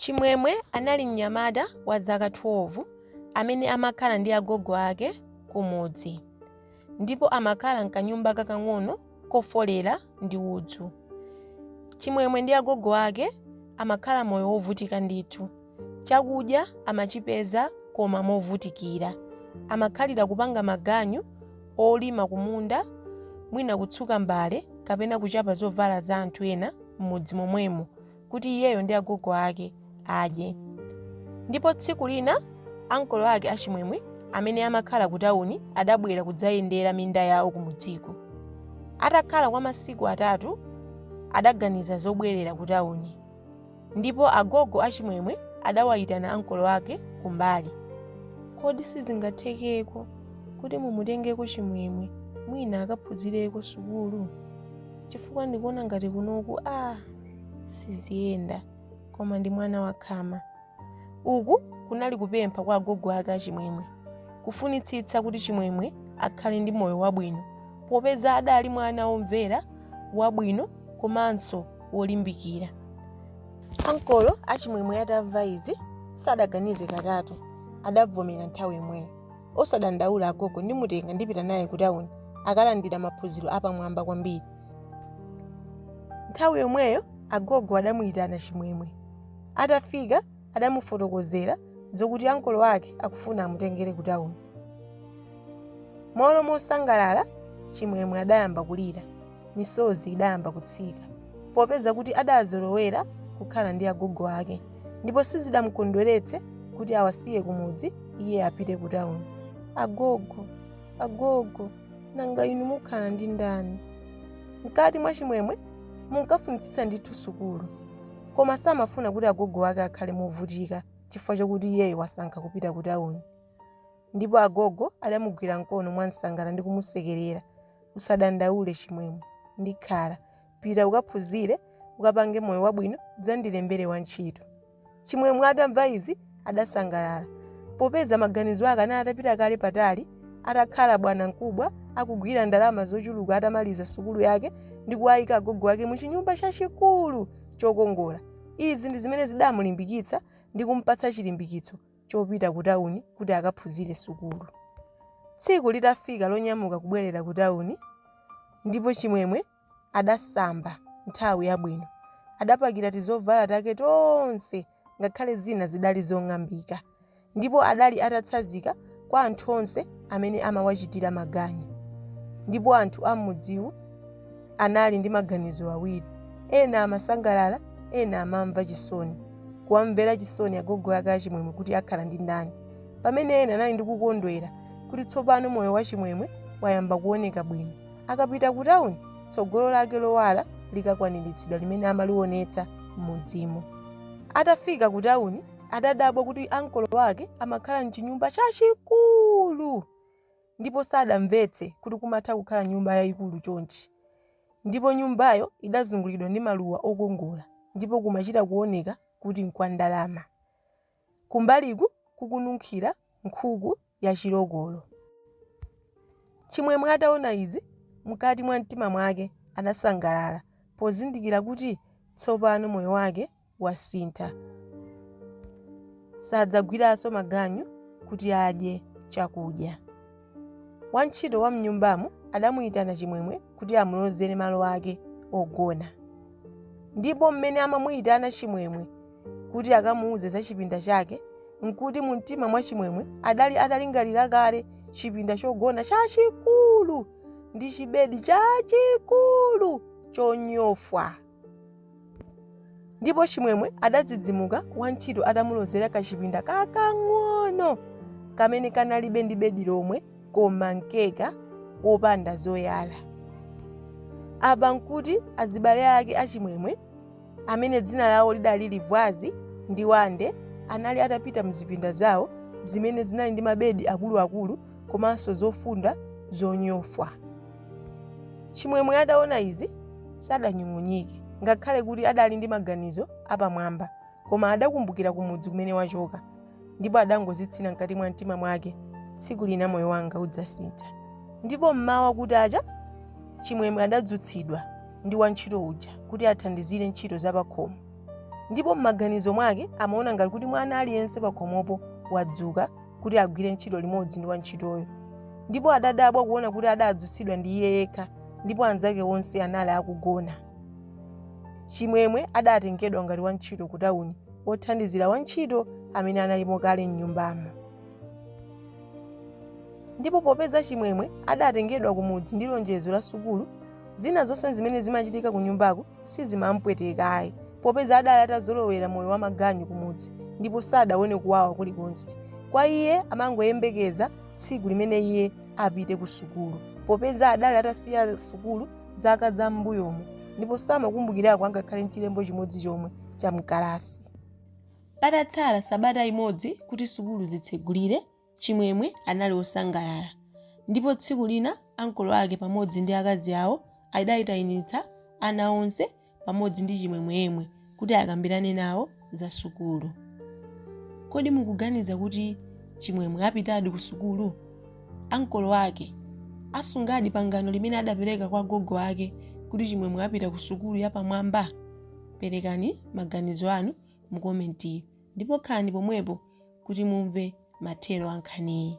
Chimwemwe anali mnyamata wa zaka 12 amene amakhala ndi agogo ake kumudzi ndipo amakhala m'kanyumba kakang'ono kofolera ndi udzu. Chimwemwe ndi agogo ake amakhala moyo wovutika ndithu. Chakudya amachipeza koma movutikira. Amakhalira kupanga maganyu olima kumunda, mwina kutsuka mbale kapena kuchapa zovala za anthu ena m'mudzi momwemo. kuti iyeyo ndi agogo ake adye. Ndipo tsiku lina ankolo ake a Chimwemwe amene amakhala ku tawuni adabwera kudzayendera minda yawo kumudziko. Atakhala kwa masiku atatu adaganiza zobwerera ku tawuni. Ndipo agogo a Chimwemwe adawayitana ankolo ake kumbali. Kodi sizingathekeko kuti mumutengeko Chimwemwe mwina akaphunzireko sukulu? Chifukwa ndikuona ngati kunoku aah! siziyenda koma ndi mwana wakhama uku kunali kupempha kwa agogo ake a Chimwemwe kufunitsitsa kuti Chimwemwe akhale ndi moyo wabwino popeza adali mwana womvera wabwino komanso wolimbikira ankolo a Chimwemwe atamva izi sadaganize katatu adavomera nthawi imweyo Osadandaula agogo, ndimutenga ndipita naye kutauni akalandira maphunziro apamwamba kwambiri. Nthawi yomweyo agogo adamuyitana Chimwemwe. Atafika adamufotokozera zokuti ankolo ake akufuna amutengere kutauni. M'malo mosangalala Chimwemwe adayamba kulira. misozi idayamba kutsika popeza kuti adazolowera kukhala ndi agogo ake ndipo sizidamukondweretse kuti awasiye kumudzi iye apite ku tawuni agogo agogo nanga inu mukhala ndi ndani mkati mwa Chimwemwe munkafunitsitsa ndithu sukulu koma samafuna kuti agogo ake akhale movutika chifukwa chokuti iyeyo wasankha kupita ku tawuni Ndipo agogo adamugwira mkono mwansangala ndi kumusekerera. Usadandaule, Chimwemwe. Ndikhala. Pita ukaphunzire, ukapange moyo wabwino, udzandilembere wantchito. Chimwemwe atamva izi adasangalala. Popeza maganizo ake anali atapita kale patali, atakhala bwana mkubwa, akugwira ndalama zochuluka atamaliza sukulu yake ndi kuwayika agogo ake mu chinyumba chachikulu chokongola. Izi ndi zimene zidamulimbikitsa ndi kumpatsa chilimbikitso chopita kutauni kuti akaphunzire sukulu. Tsiku litafika lonyamuka kubwerera kutauni, ndipo Chimwemwe adasamba nthawi yabwino, adapakira tizovala take tonse ngakhale zina zidali zong'ambika, ndipo adali atatsazika kwa anthu onse amene amawachitira maganyu, ndipo anthu am'mudziwu. anali ndi maganizo awiri. Ena amasangalala, ena amamva chisoni. Kuwamvera chisoni agogo ake achimwemwe kuti akhala ndi ndani, pamene ena anali ndi kukondwera kuti tsopano moyo wachimwemwe wayamba kuoneka bwino. Akapita kutauni, tsogolo lake lowala likakwaniritsidwa limene amalionetsa m'mudzimo. Atafika kutauni, adadabwa kuti ankolo ake amakhala m'chinyumba chachikulu! ndipo sadamvetse kuti kumatha kukhala nyumba yayikulu chonchi, ndipo nyumbayo idazungulidwa ndi maluwa okongola ndipo kumachita kuoneka kuti nkwa ndalama. Kumbaliku kukununkhira nkhuku ya chilokolo. Chimwemwe ataona izi, mkati mwa mtima mwake adasangalala pozindikira kuti tsopano moyo wake wasintha. Sadzagwiranso maganyu kuti adye chakudya. Wantchito wa m'nyumbamo adamuyitana Chimwemwe kuti amulozere malo ake ogona. Ndipo mmene amamuyitana Chimwemwe kuti akamuuze za chipinda chake n'kuti mumtima mwa Chimwemwe adali atalingalira kale chipinda chogona chachikulu ndi chibedi chachikulu chonyofwa. ndipo chimwemwe adadzidzimuka wantchito atamulozera kachipinda kakang'ono kamene kanalibe ndi bedi lomwe koma mkeka wopanda zoyala apa nkuti azibale ake achimwemwe amene dzina lawo lidali livwazi ndi wande anali atapita mzipinda zawo zimene zinali ndi mabedi akuluakulu komanso zofunda zonyofwa Chimwemwe ataona izi sadanyung'unyike, ngakhale kuti adali ndi maganizo apamwamba, koma adakumbukira kumudzi kumene wachoka, ndipo adangozitsina mkati mwa mtima mwake, tsiku lina moyo wanga udzasintha. Ndipo m'mawa kutacha, Chimwemwe adadzutsidwa ndi wantchito uja kuti athandizire ntchito zapakhomo, ndipo m'maganizo mwake amaona ngati kuti mwana aliyense pakhomopo wadzuka kuti agwire ntchito limodzi ndi wantchitoyo. Ndipo adadabwa kuona kuti adadzutsidwa ndi iye yekha, ndipo anzake onse anali akugona. Chimwemwe adatengedwa ngati wantchito kutauni, wothandizira wantchito amene analimo kale m'nyumbamo. Ndipo popeza Chimwemwe adatengedwa kumudzi ndi lonjezo la sukulu, zina zonse zimene zimachitika kunyumbako sizimam'pweteka ayi, popeza adali atazolowera moyo wamaganyu kumudzi ndipo sadaone kuwawa kulikonse. Kwa iye amangoyembekeza tsiku limene iye apite kusukulu, popeza adali atasiya sukulu zaka za m'mbuyomo ndipo samakumbukirako angakhale n'chilembo chimodzi chomwe cha m'kalasi. Patatsala sabata imodzi kuti sukulu zitsegulire, Chimwemwe anali wosangalala, ndipo tsiku lina ankolo ake pamodzi ndi akazi awo adaitanitsa ana onse pamodzi ndi Chimwemwe yemwe kuti akambirane nawo za sukulu. Kodi mukuganiza kuti Chimwemwe apitadi kusukulu? Ankolo ake asungadi pangano limene adapereka kwa gogo ake kuti Chimwemwe apita kusukulu yapamwamba? Perekani maganizo anu mukomenti. ndipo khalani pomwepo kuti mumve mathero a nkhaniyi.